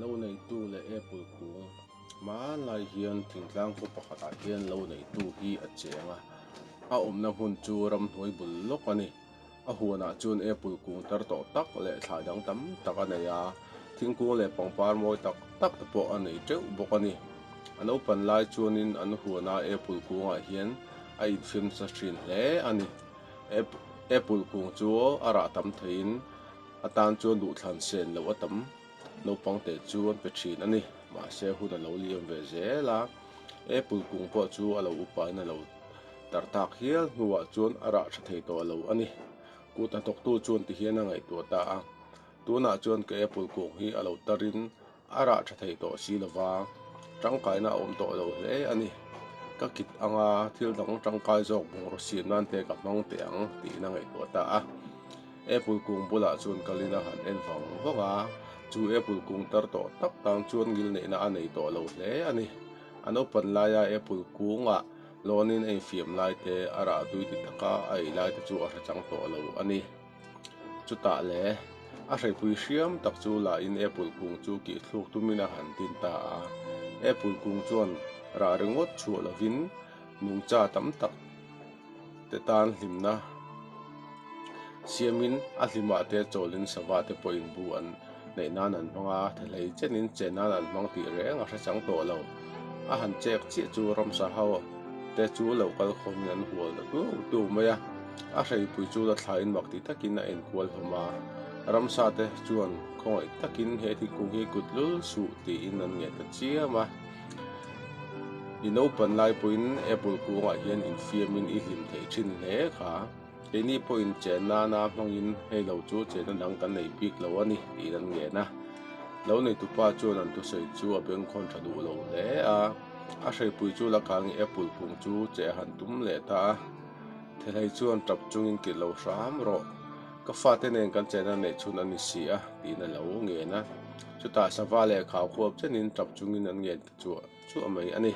Lo neitu leh Apple kung. Hmanlai hian thingtlang khaw pakhatah hian lo neitu hi a cheng a, a awmna hmun chu ramhnuai bul lawk a ni. A huanah chuan apple kung tar tawh tak leh thlai dang tam tak a nei a, thingkung leh pangpar mawi tak tak te pawh a nei teuh bawk a ni. A naupan lai chuanin an huana apple kungah hian a infiam sa thin hle a ni. Apple kung chu a rah tam theiin a tan chuan duhthlan sen loh a tam naupangte chu an pe thin a ni. Mahse hun a lo liam ve zel a, apple kung pawh chu a lo upain a lo. Tar tak hial hnuah chuan a rah tha thei tawh lo a ni. Kut hnathawktu chuan tihian a ngaihtuah ta a, Tunah chuan ka apple kung hi a lo tarin a rah tha thei tawh si lova, tangkaina a awm tawh lo hle a ni. Ka kit anga thil dang tangkai zawk bungraw-siam nan te ka hmang teh ang, tiin a ngaihtuah ta a. Apple kung bulah chuan Kalina han en vang vang a, chu apple kung tar tawh tak tan chuan ngilneihna a nei tawh lo hle a ni. A naupan laia apple kunga lawnin a infiam lai te, a rah tui ti taka a ei lai te chu a hrechang tawh lo a ni. Chutah le, a hreipui hriam tak chu lahin apple kung chu kihthluk tumin a han tin ta a. Apple kung chuan rah ringawt chhuah lovin nungcha tam tak, te tan hlimna siamin a hlima te chawlin sava te pawhin bu an neih nan an hmang a, thehlei chenin che nan an hmang tih reng a hrechang tawh lo. A han chek chiah chu Ramsa ho te chu lo kal khawmin an hual ta tûk tûk mai a, a hreipui chu la thlaiin mak ti takin a enkual hlawm a, Ramsa te chuan khawngaih takin he thingkung hi kutlul suh tiin an nge ta chiam a. I naupan laipuiin Apple kungah hian infiamin i hlim theih thin hle kha. Keini pawhin chan nana hmangin hei lo chu chenna dang kan nei bik lo a ni tih kan ngen a. Lo neitupa chuan an thusawi chu a beng khawn tha duh lo hle a. A hreipui chu lakang i Apple kung chu che a han tum leh ta a. Thehlei chuan tap chungin kilh lo hram rawh. Ka fate nen kan chenna neih chhun a ni si a tihna lo ngen a. Chutah sava leh khau khuap chenin tap chungin an ngen ta chuah chuah mai a ni.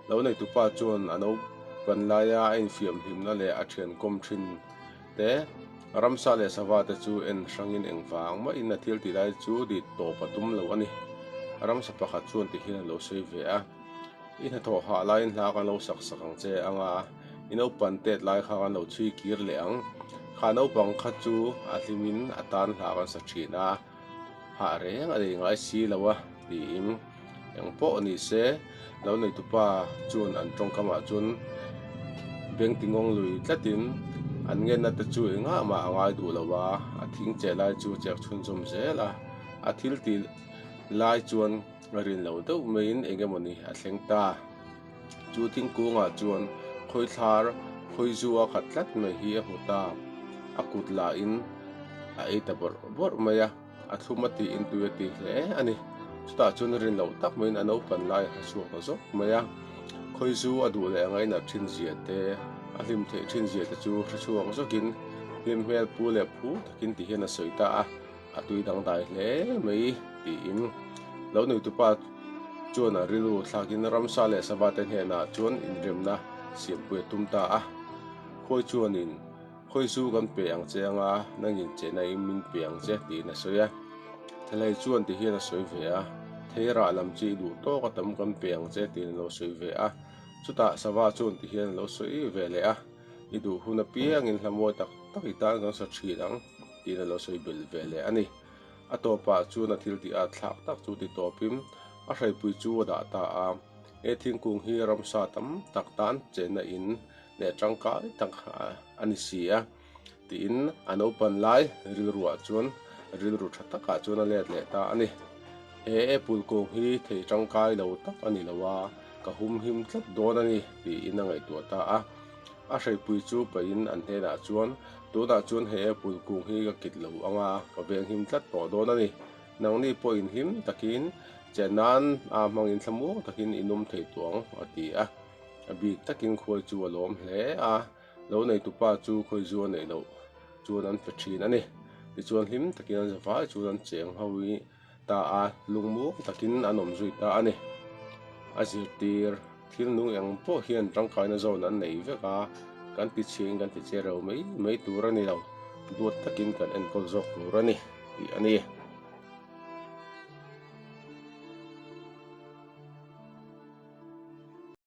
Lo neitupa chuan a naupan laia a infiam hlimna leh a thian kawm thin te, Ramsa leh Sava te chu en hrangin engvang mahin a thiltih lai chu dit tawp a tum lo a ni. Ramsa pakhat chuan tihian a lo sawi ve a, I hna thawh hah laiin hla kan lo sak sak ang che anga i naupan tet lai kha kan lo chhui kir leh ang. Kha naupang kha chu a hlimin a tan hla kan sa thin a. Hah reng a nei ngai si lo a, tiin eng pawh ni se lo neitupa chuan an tawngkamah chuan beng ti ngawng lui tlatin an ngenna te chu engah mah a ngai duh lo va, a thing che lai chu a chek chhun zawm zel a, a thil tih lai chuan rin lo deuh maiin eng emaw ni a thleng ta. Chu thingkungah chuan khawi thlar, khawi zua khat tlat mai hi a hmu ta. A kut lahin a ei ta bawrh bawrh mai a, a thlum a tiin tui a tih hle a ni. Chutah chuan rin loh tak maiin a naupan lai a hresuak ta zawk mai a. Khawi zu a duh leh angai nat ṭhinzia te, a hlim theih ṭhinzia te chu hresuak zawkin hlim hmel pu leh phu takin ti hian a sawi ta a. A tui dang dai hle mai tiin lo nuitupa chuan a rilru thlakin Ramsa leh Sava te hnenah chuan inremna siampui a tum ta a. Khawi chuan in, Khawi zu kan pe ang che anga nang in chehna in min pe ang che tiin a sawi a. Thelei chuan ti hian a sawi ve a, Thei rah lam chi i duh tawk a tam kan pe ang che tiin a lo sawi ve a. Chutah Sava chuan ti hian a lo sawi ve leh a, I duh hun apiangin hlamawi tak tak i tan kan sa thin ang. tiin a lo sawi belh ve leh a ni. A tawpah chuan a thil tih a thlak tak chu ti tawpin a hreipui chu a dah ta a, he thingkung hi ramsa tam tak tan chenna in leh tangkai tak a ni si a, tiin an upan lai rilruah chuan rilru tha takah chuan a let leh ta a ni. He apple kung hi thei tangkai lo tak a ni lo a, ka humhim tlat dawn a ni, tiin a ngaihtuah ta a. A hreipui chu pahin an hnenah chuan, Tunah chuan he apple kung hi ka kit lo anga ka veng him tlat tawh dawn a ni. Nangni pawh inhlim takin chiah nan a hmangin thla muang takin i nawm thei tawh ang, a ti a. A bik takin khuai chu a lawm hle a, lo neitu pa chu khawi zu a neih loh chuan an fe thin a ni. Tichuan hlim takin an zavai chuan an cheng ho i, Ta a, lungmawng takin an awm zui ta a ni. A zirtir thilnung eng pawh hian tangkaina zawn an nei vek a, kan tichhiahin kan ti che reu mai mai tur a ni lo, duat takin kan enkawl zawk tur a ni, tih a ni.